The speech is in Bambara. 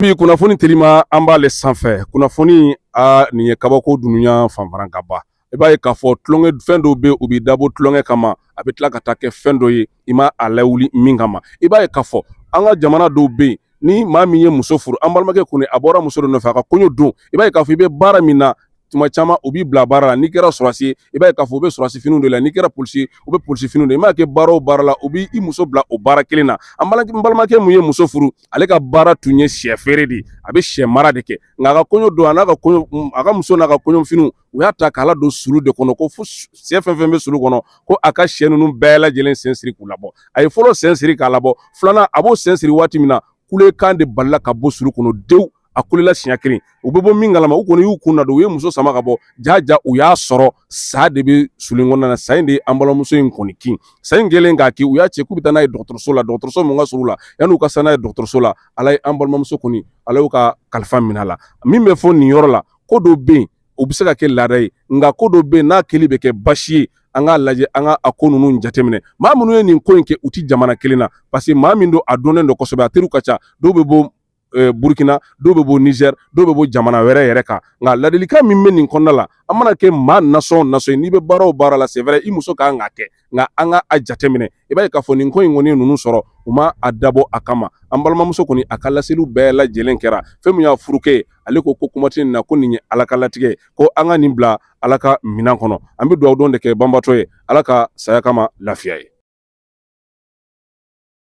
Bi kunnafoni telima an b'ale sanfɛ kunnafoni a nin ye kabako dunya fanfara ka ban i b'a ye k'a fɔ tulonkɛ fɛn dɔw bɛ u bɛ dabɔ tulonkɛ kama a bɛ tila ka taa kɛ fɛn dɔ ye i ma a lawuli min kama i b'a ye k'a fɔ an ka jamana dɔw bɛ yen ni maa min ye muso furu an balimakɛ kɔni a bɔra muso dɔ nɔfɛ a ka kɔɲɔ don i b'a ye k'a fɔ i bɛ baara min na tuma caman u b'i bila baara la n'i kɛra sɔrɔsi ye i b'a ye k'a fɔ u bɛ sɔrɔsi finiw de la n'i kɛra polisi ye u bɛ polisi finiw de i m'a kɛ baara o baara la u b'i i muso bila o baara kelen na an balimakɛ min ye muso furu ale ka baara tun ye sɛ feere de ye a bɛ sɛ mara de kɛ nka a ka kɔɲɔ don a n'a ka kɔɲɔ a ka muso n'a ka kɔɲɔfiniw u y'a ta k'a ladon sulu de kɔnɔ ko fo sɛ fɛn o fɛn bɛ sulu kɔnɔ ko a ka sɛ ninnu bɛɛ lajɛlen sen siri k'u labɔ a ye fɔlɔ sen siri k'a labɔ filanan a b'o sen siri waati min na kulekan de balila ka bɔ sulu kɔnɔ denw a kulela siɲɛ kelen u bɛ bɔ min kalama u kɔni y'u kun nadon u ye muso sama ka bɔ ja ja u y'a sɔrɔ sa de bɛ sulu in kɔnɔna na sa in de ye an balimamuso in kɔni kin sa in kɛlen k'a kin u y'a cɛ k'u bɛ taa n'a ye dɔgɔtɔrɔso la dɔgɔtɔrɔso min ka surun la yan'u ka se n'a ye dɔgɔtɔrɔso la ala ye an balimamuso kɔni ala y'u ka kalifa minɛ a la min bɛ fɔ nin yɔrɔ la ko dɔw bɛ yen u bɛ se ka kɛ laada ye nka ko dɔw bɛ yen n'a kɛli bɛ kɛ basi ye an k'a lajɛ an ka a ko ninnu jateminɛ maa minnu ye nin ko in kɛ u tɛ jamana kelen na parce que maa min don a dɔnnen don kosɛbɛ a teriw ka ca dɔw bɛ bɔ euh, burukina dɔw bɛ bɔ nizɛri dɔw bɛ bɔ jamana wɛrɛ yɛrɛ kan nka ladilikan min bɛ nin kɔnɔna la an mana kɛ maa nasɔn nasɔn ye n'i bɛ baara o baara la c'est vrai i muso ka kan k'a kɛ nka an ka a jateminɛ i b'a ye k'a fɔ nin ko in kɔni ye ninnu sɔrɔ u ma a dabɔ a kama an balimamuso kɔni a ka laseliw bɛɛ lajɛlen kɛra fɛn min y'a furukɛ ale ko ko kuma tɛ nin na ko nin ye ala ka latigɛ ko an ka nin bila ala ka minɛn kɔnɔ an bɛ dugawu don de kɛ banbaatɔ ye ala ka saya k'a ma lafiya ye